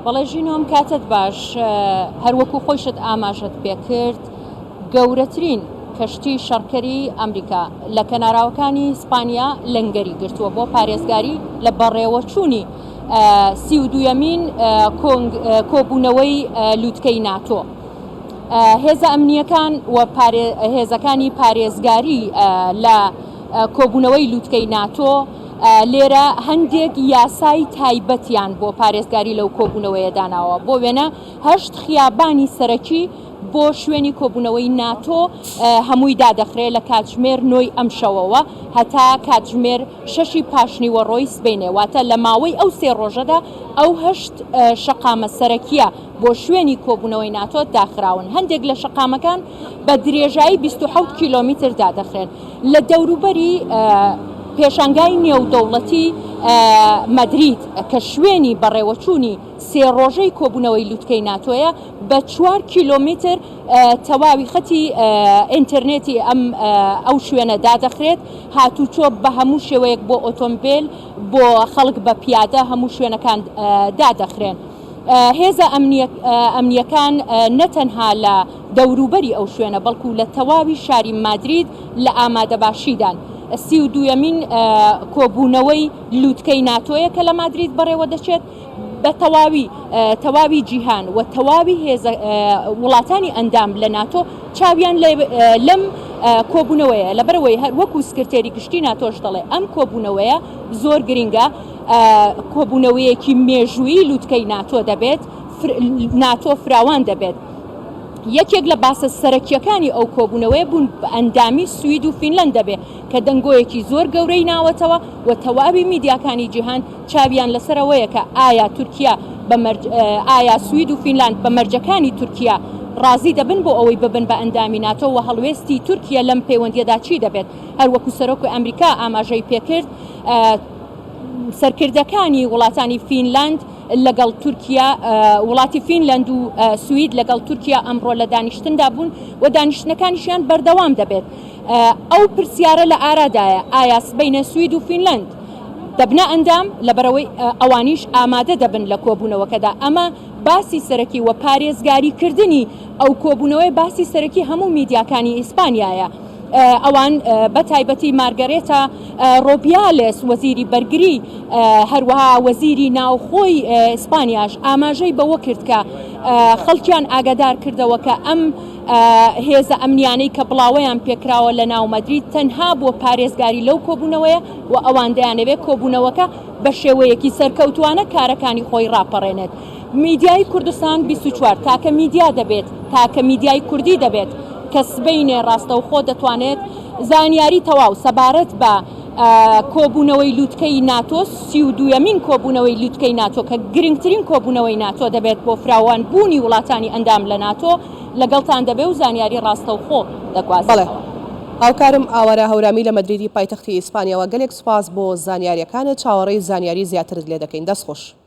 بەڵێ ژینۆم کاتت باش هەروەکو خۆشت ئاماژەت پێکرد گەورەترین کەشتی شەڕکەری ئەمریکا لە کەناراوەکانی ئیسپانیا لەنگەری گرتووە بۆ پارێزگاری لە بەڕێوەچوونی سی و دووەمین کۆبوونەوەی لووتکەی ناتۆ. هێزە ئەمنیەکان و هێزەکانی پارێزگاری لە کۆبوونەوەی لووتکەی ناتۆ لێرە هەندێک یاسای تایبەتیان بۆ پارێزگاری لەو کۆبوونەوەیە داناوە، بۆ وێنە هەشت خیابانی سەرەکی بۆ شوێنی کۆبوونەوەی ناتۆ هەمووی دادەخرێ لە کاتژمێر نۆی ئەمشەوەوە هەتا کاتژمێر شەشی پاشنیوەڕۆی سبەینێ، واتە لە ماوەی ئەو سێ ڕۆژەدا ئەو هەشت شەقامە سەرەکییە بۆ شوێنی کۆبوونەوەی ناتۆ داخراون، هەندێک لە شەقامەکان بە درێژایی بیست و حەوت کیلۆمیتر دادەخرێن. لە دەوروبەری پێشانگای نێودەوڵەتی مەدرید کە شوێنی بەڕێوەچوونی سێ ڕۆژەی کۆبوونەوەی لوتکەی ناتۆیە بە چوار کیلۆمیتر تەواوی خەتی ئینتەرنێتی ئەم ئەو شوێنە دادەخرێت هاتوچۆ بە هەموو شێوەیەک بۆ ئۆتۆمبیل بۆ خەڵک بە پیادە هەموو شوێنەکان دادەخرێن. هێزە ئەمنییەکان نە تەنها لە دەوروبەری ئەو شوێنە بەڵکو لە تەواوی شاری مادرید لە ئامادەباشیدان. سی و دوویەمین کۆبوونەوەی لووتکەی ناتۆیە کە لە مادرید بەڕێوەدەچێت، بە تەواوی تەواوی جیهان و تەواوی هێزە وڵاتانی ئەندام لە ناتۆ چاویان لەم کۆبوونەوەیە، لەبەرئەوەی وەکو سکرتێری گشتی ناتۆش دەڵێ ئەم کۆبوونەوەیە زۆر گرنگە. کۆبوونەوەیەکی مێژوویی لووتکەی ناتۆ دەبێت ناتۆ فراوان دەبێت یەکێک لە باسە سەرەکیەکانی ئەو کۆبوونەوەی بوون بە ئەندامی سوید و فینلند دەبێ کە دەنگۆیەکی زۆر گەورەی ناوەتەوە و تەواوی میدیاکانی جیهان چاویان لەسەرەوەیە کە ئایا تورکیا بەمەرج ئایا سوید و فینلاند بە مەرجەکانی تورکیا ڕازی دەبن بۆ ئەوەی ببن بە ئەندامی ناتۆ و هەڵوێستی تورکیا لەم پەیوەندیەدا چی دەبێت هەروەکو سەرۆک ئەمریکا ئاماژەی پێکرد سەرکردەکانی وڵاتانی فینلاند لەگەڵ تورکیا وڵاتی فینلەند و سوید لەگەڵ تورکیا ئەمڕۆ لە دانیشتندا بوون و دانیشتنەکانیشیان بەردەوام دەبێت ئەو پرسیارە لە ئارادایە ئایا سبینە سوید و فینلەند دەبنە ئەندام لەبەرەوەی ئەوانیش ئامادە دەبن لە کۆبوونەوەکەدا ئەمە باسی سەرەکی و پارێزگاریکردنی ئەو کۆبوونەوەی باسی سەرەکی هەموو میدیاکانی ئیسپانیایە. ئەوان بە تایبەتی مارگەرێتا ڕۆبیالێس وەزیری بەرگری هەروەها وەزیری ناوخۆی ئیسپانیاش ئاماژەی بەوە کرد کە خەڵکیان ئاگادار کردەوە کە ئەم هێزە ئەمنیانەی کە بڵاوەیان پێکراوە لە ناو مەدرید تەنها بۆ پارێزگاری لەو کۆبوونەوەیە و ئەوان دەیانەوێت کۆبوونەوەکە بە شێوەیەکی سەرکەوتووانە کارەکانی خۆی ڕاپەڕێنێت. میدیای کوردستان بیست و چوار تاکە میدیا دەبێت، تاکە میدیای کوردی دەبێت کە سبەینێ ڕاستەوخۆ دەتوانێت زانیاری تەواو سەبارەت بە کۆبوونەوەی لوتکەی ناتۆ، سی و دوویەمین کۆبوونەوەی لوتکەی ناتۆ کە گرنگترین کۆبوونەوەی ناتۆ دەبێت بۆ فراوان بوونی وڵاتانی ئەندام لە ناتۆ لەگەڵتان دەبێ و زانیاری ڕاستەوخۆ دەگوازینەوە. هاوکارم ئاوارە هەورامی لە مەدریدی پایتەختی ئیسپانیاوە گەلێک سوپاس بۆ زانیاریەکانت چاوەڕێی زانیاری زیاترت لێ دەکەین دەست خۆش.